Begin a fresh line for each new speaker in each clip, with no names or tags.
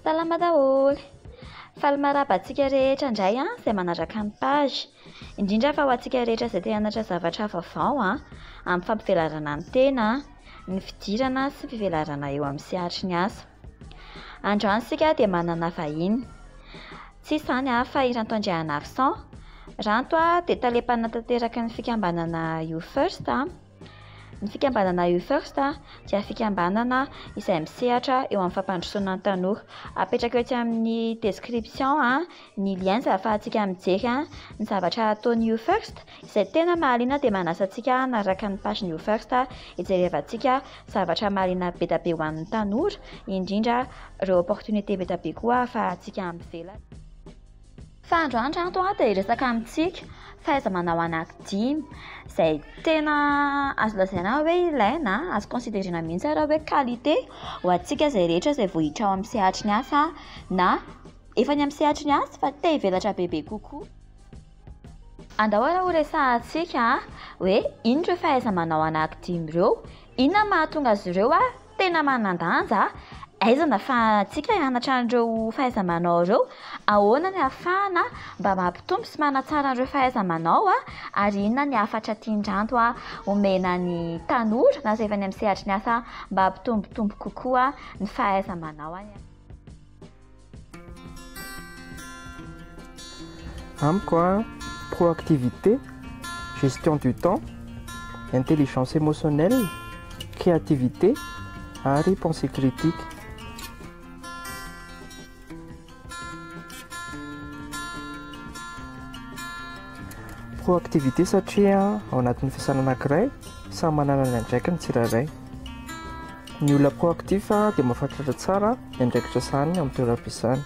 Salama daholo! Faly maraba antsika rehetra indray an, izay manaraka ny page. Indrindra fa ho antsika rehetra izay te hanatra zavatra vaovao an, amin'ny fampivelarana ny tena, ny fidirana sy fivelarana eo amin'ny sehatry ny asa. Androany isika dia manana vahiny. Tsy iza izany an, fa i Ranto Andrianarison. Ranto an dia tale mpanatanteraky ny fikambanana You First an. Ny fikambanana You First dia fikambanana izay misehatra eo amin'ny fampandrosoana ny tanora. Apetrako etsy amin'ny description ny liens ahafahantsika mijery ny zavatra ataon'ny You First izay tena mahaliana dia manasa antsika hanaraka ny page-n'ny You First hijerevantsika zavatra mahaliana be dia be ho an'ny tanora, indrindra ireo opportunités be dia be koa ahafahantsika mivelatra. Fa androandro ato dia hiresaka amintsika fahaiza-manao anakidimy, izay tena azo lazaina hoe ilaina, azo considerena mihitsy ary hoe qualité ho antsika izay rehetra izay vohitra ao amin'ny sehatry ny asa na efa any amin'ny sehatry ny asa fa te hivelatra bebe kokoa. Andao ary horesahantsika hoe inona ireo fahaiza-manao anakidimy ireo, inona no mahatonga azy ireo Tena manan-danja aizana fa antsika hianatra an'ireo fahaiza-manao ireo. Ahoana ny ahafahana mba mampitombo sy manatsara an'ireo fahaiza-manao ary inona ny hafatra tian-dRanto homena ny tanora na izay efa any amin'ny sehatry ny asa mba hampitombotombo kokoa ny fahaiza-manao any amin'ny.
Amiko a, proactivité, gestion du temps, intelligence émotionnelle, créativité ary pensée critique. Proactivité satria ao anatin'ny fisana anankiray samy manana ny andraikiny tsirairay. Ny olona proactif dia mahafantratra tsara ny andraikitra sahaniny amin'ny toeram-piasany.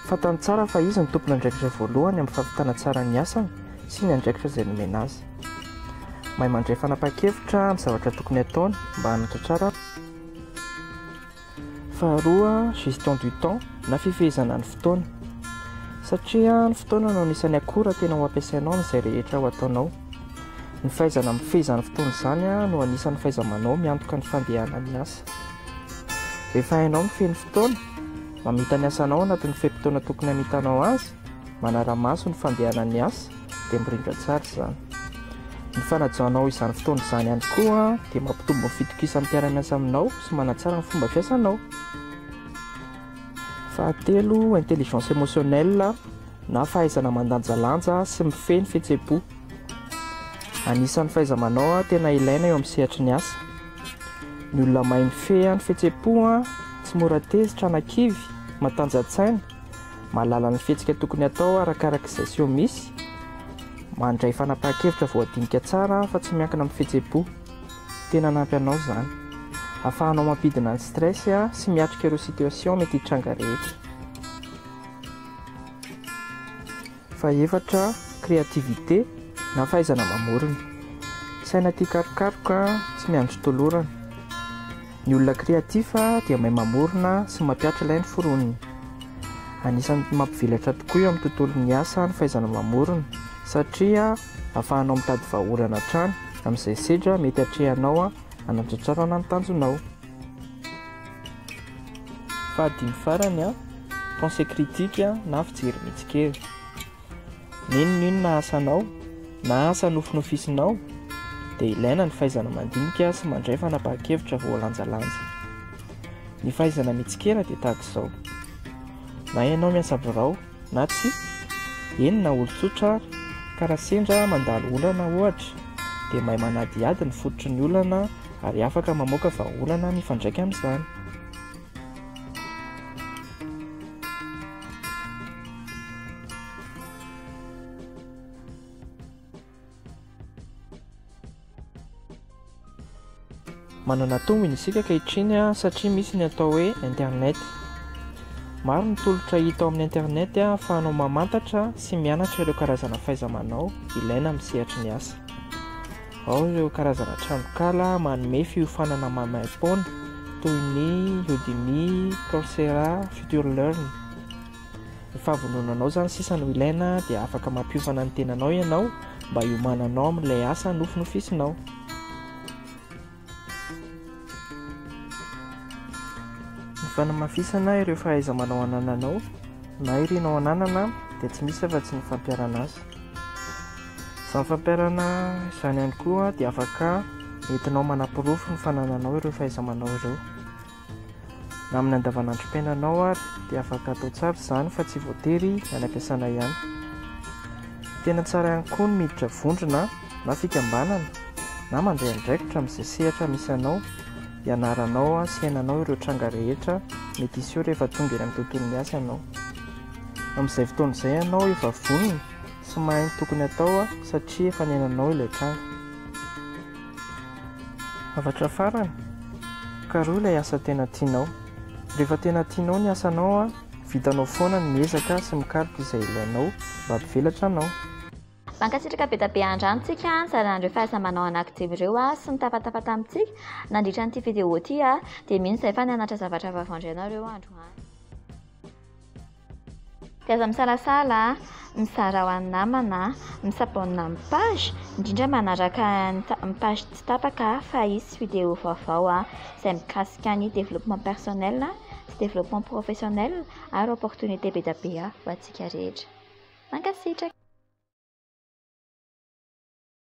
Fantany tsara fa izy no tompon'andraikitra voalohany amin'ny fampitana tsara ny asany sy ny andraikitra izay nomena azy. Mahay mandray fanapahan-kevitra amin'ny zavatra tokony hataony mba hanatratrara. Faharoa, gestion du temps na fifehezana ny fotoana. Satria ny fotoana no anisan'ny akora tena ho ampiasainao amin'izay rehetra ho ataonao. Ny fahaizana mifehy izany fotoana izany no anisan'ny fahaiza-manao miantoka ny fandehanan'ny asa. Rehefa hainao mifehy ny fotoana, mamita ny asanao anatin'ny fe-potoana tokony hamitanao azy, manara-maso ny fandehanan'ny asa, dia mirindra tsara izany. Ny fanajanao izany fotoana izany ihany koa dia mampitombo ny fitokisan'ny mpiara-miasa aminao sy manatsara ny fomba fiasanao. Fahatelo, intelligence émotionnelle na fahaizana mandanjalanja sy mifehy ny fihetseham-po. Anisan'ny fahaiza-manao tena ilaina eo amin'ny sehatry ny asa. Ny olona mahay mifehy ny fihetseham-po, tsy mora tezitra na kivy, matanjantsaina, mahalala ny fihetsika tokony hatao arakaraka izay seho misy, mandray fanapahan-kevitra voadinika tsara fa tsy miankina amin'ny fihetseham-po. Tena hanampy anao izany. Ahafahanao mampidina ny stress sy miatrika ireo situation mety hitranga rehetra. Fahefatra, créativité, na fahaizana mamorona. Saina tia karokaroka, tsy miandry tolorana. Ny olona créatif dia mahay mamorona sy mampiatra ilay noforoniny. Anisan'ny mampivelatra tokoa eo amin'ny tontolon'ny asa ny fahaizana mamorona satria ahafahanao mitady vahaolana hatrany amin'izay sedra mety atrehanao hanatratrarana ny tanjonao. Fahadimy farany, Pensée critique na fijery mitsikera. N'inon'inona asanao na asa nofinofisinao dia ilaina ny fahaizana mandinika sy mandray fanapahan-kevitra voalanjalanja. Ny fahaizana mitsikera dia tahaka izao, na ianao miasa birao, Na tsia, eny na olon-tsotra ary, ka raha sendra mandalo olana, ohatra, dia mahay manadihady ny fototry ny olana ary afaka mamoaka vahaolana mifandraika amin'izany. Manana tombony isika ankehitriny satria misy ny atao hoe internet. Maro ny tolotra hita ao amin'ny internet ahafahanao mamantatra sy mianatra ireo karazana fahaiza-manao ilaina amin'ny sehatry ny asa. Ao ireo karazana tranonkala manome fiofanana maimaim-poana toy ny Udemy, Coursera, Future Learn. Ny fahavononanao izany sisa no ilaina dia afaka mampiofana ny tenanao ianao mba hiomananao amin'ilay asa nofinofisinao. Ny fanamafisana ireo fahaiza-manao anananao na irinao ananana dia tsy misy afa-tsy ny fampiharana azy. Izany fampiharana izany ihany koa dia afaka entinao manaporofo ny fanananao ireo fahaiza-manao ireo. Amin'ny andavanandrom-piainanao ary dia afaka atao tsara izany fa tsy voatery any am-piasana ihany. Tena tsara ihany koa ny miditra vondrona na fikambanana na mandray andraikitra amin'izay sehatra misy anao hianaranao sy hiainanao ireo tranga rehetra mety hiseho rehefa tonga eny amin'ny tontolon'ny asa ianao. Amin'izay fotoana izay ianao efa vonona sy mahay ny tokony atao satria efa niainanao ilay tranga. Hafatra farany, karohy ilay asa tena tianao. Rehefa tena tianao ny asanao, vitanao foana ny miezaka sy mikaroka izay ilainao mba hampivelatra anao. Mankasitraka
be da be andramo tsika nizara an'ireo fahasambanao anaky Divo ireo sy nitafatafa tamintsika nandritra an'ity video ity dia mino izay fa nianatra zavatra vaovao indray nareo androany. Dia aza misalasala a! Mizara ho an'ny namana a! Misabonina amin'ny page, indrindra manaraka ny page tsy tapaka fa hisy vidéo vaovao a! izay mikasika ny développement personnel sy développement professionnel ary opportunité be dia be ho antsika rehetra. Mankasitraka.